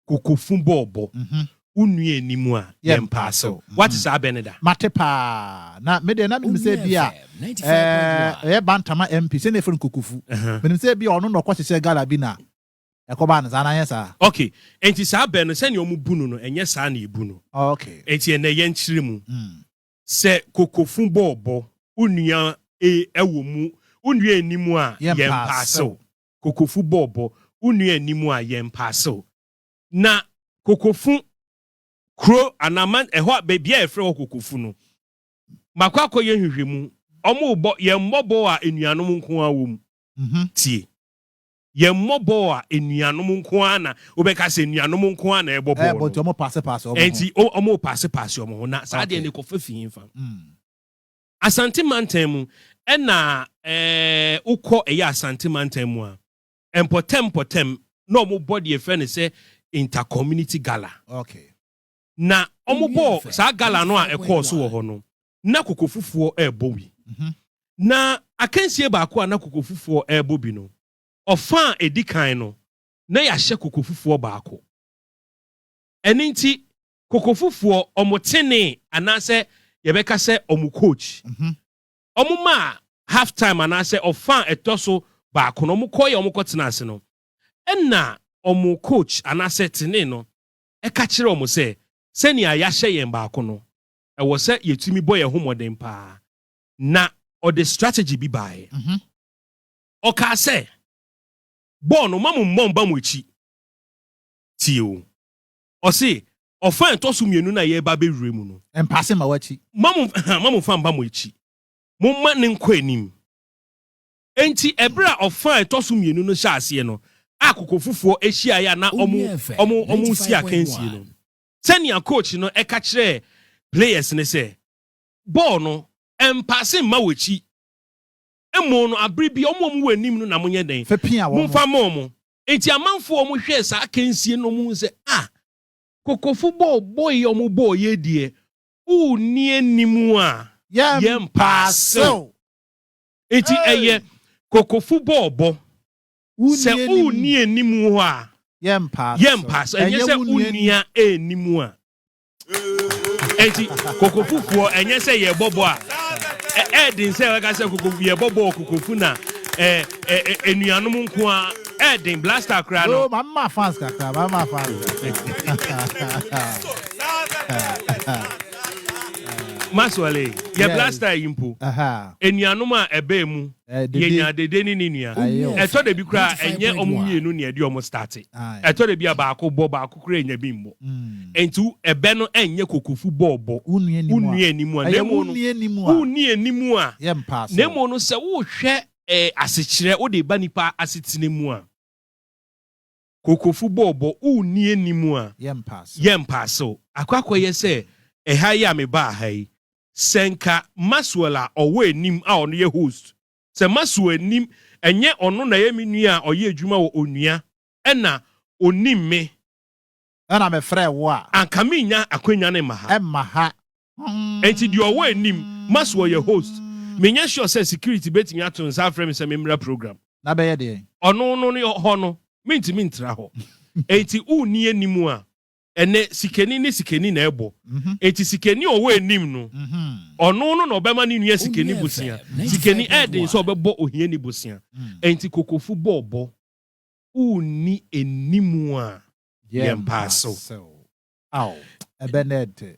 Kokofun bɔɔ bɔ. Wo nua ani mu a, yɛmpa asew. Woate saa bɛ no da? Mate paa. Na me deɛ na menim sɛ ebia ɛɛ ɛyɛ Bantama MP, sɛnea yɛfrɛ no Kokofu. Menim sɛ ebia ɔno na ɔkɔhyehyɛɛ gala bi na ɛkɔbaa no saa, anaa ɛnyɛ saa? Ok, enti saa bɛ no, sɛnea wɔbu no no, ɛnyɛ saa na yɛbu no. Ok. Enti ɛnnɛ yɛnkyerɛ mu sɛ Kokofun bɔɔ bɔ, wo nua e ɛwɔ mu, wo nua ani mu a, yɛmpa asew. Kokofu bɔɔ bɔ wo nua anim a, yɛ mpaasew. Na Kokofu kuro anaa man ɛhɔ a baabi a yɛfrɛ hɔ Kokofu no, makɔ akɔyɛ nhwehwɛmu. Wɔrebɔ yɛn mmɔbɔ a anuanom nko ara wom. Tie! Yɛn mmɔbɔ a anuanom nko ara na wobɛka sɛ anuanom nko ara na ɛrebɔ bɔɔl no. Ɛnti wɔrepaase paase wɔn ho. Na saa adeɛ no ɛkɔfa fi hefa? Asante mantam mu ɛna wokɔ ɛyɛ Asante mantam mu a mpɔtam mpɔtam na ɔmo bɔ deɛ fɛ ne sɛ inter community gala okay. na ɔmo bɔ saa gala no a ɛkɔɔ so wɔ hɔ no na kokofufuɔ ɛɛbɔ wi mm -hmm. na akansie baako a na kokofufuɔ ɛɛbɔ bi no ɔfa a ɛdi kan no na yɛahyɛ kokofufuɔ baako ɛne nti Kokofufoɔ, wɔn tenee anaasɛ yɛbɛka sɛ wɔn coach. Wɔn maa half time anaasɛ ɔfa a ɛtɔ so baako no, wɔn kɔeɛ wɔn kɔtena ase no. Ɛna wɔn coach anaasɛ tenee no ɛka kyerɛ wɔn sɛ, sɛnea yɛahyɛ yɛn baako no, ɛwɔ sɛ yɛtumi bɔ yɛn ho mmɔden paa. Na ɔde strategy bi baeɛ. Ɔkaa sɛ, bɔɔl no, mma mo mmɔ mba mo akyi. Tie o. Ɔse, Ɔfa a ɛtɔ so mmienu no a yɛreba abɛwura mu no. Mpase mma w'akyi. Mma mo, mma mo fa mma mo akyi. Momma no nkɔ anim. Enti ɛberɛ a ɔfa a ɛtɔ so mmienu no hyɛɛ aseɛ no, a kokofufoɔ hyiaeɛ a na wɔn, wɔn, wɔn resi akansie no, sɛnea coach no ka kyerɛɛ players no sɛ, Bɔɔl no, mpase mma w'akyi. Mmom no, aberɛ bi, wɔn a wɔwɔ anim no na monyɛ dɛn? Momfa mma wɔn. Enti amanfoɔ a wɔhwɛɛ saa akansie no huu sɛ, Ah! Kokofo bɔɔ bɔe a wɔbɔɔ yei deɛ, wonni anim a, yɛrempa asew. Enti ɛyɛ Kokofo bɔɔ bɔ. Sɛ wonni anim hɔ a, yɛrempa asew. Ɛnyɛ sɛ wonni anim a. eti kokofufuɔ ɛnyɛ sɛ yɛbɔbɔ a ɛɛden sɛ ɛka sɛ kokofu yɛbɔbɔ wɔ kokofu na ɛɛ ɛɛ enuanom nko a ɛɛden blaster koraa no. maa maa fans kakra maa maa fans. maswale yɛ blaster yi mpo enuanom a ɛbɛɛ mu Yenya Dede ne ne nua. Ɛtɔ da bi koraa a, ɛnyɛ wɔn mmienu na ɛde wɔn starte. Ɛtɔ da bi a, baako bɔ, baako koraa nnya bi mmɔ. Enti ɛbɛ no nyɛ kokofu bɔɔbɔ, wonni anim a, na mmom no, wonni anim a, na mmom no, sɛ worehwɛ asekyerɛ wode reba nnipa asetena mu a, Kokofo bɔɔ bɔ o nni anim a yɛmpa asew. Akɔ akɔyɛ sɛ ɛha yi a mebaa ha yi, sɛ nka Maxwell a ɔwɔ anim a ɔno yɛ host, sɛ Maxwell anim, ɛnyɛ ɔno na ɛyɛ me nua a ɔyɛ adwuma wɔ Onua ɛna onim me. Ɛna mefrɛɛ wo a. Anka mennya akwanya no mma ha. Ɛmma ha. Enti deɛ ɔwɔ anim ma so ɔyɛ host. Menyɛ sure sɛ security bɛtumi ato nsa afrɛ me sɛ memmra program. Na bɛyɛ deɛn? Ɔno no ne hɔ no mentumi ntra hɔ. Enti wonni anim a, ɛnɛ sikani ne sikani na ɛbɔ. Enti sikani a ɔwɔ anim no, ɔno no na ɔbɛma ne nua sikani bosea. Sikani ɛɛden sɛ ɔbɛbɔ ohiani bosea. Enti Kokofu bɔ ɔbɔ. Wonni anim a, yɛn paa so. Ao, ɛbɛ na ɛte.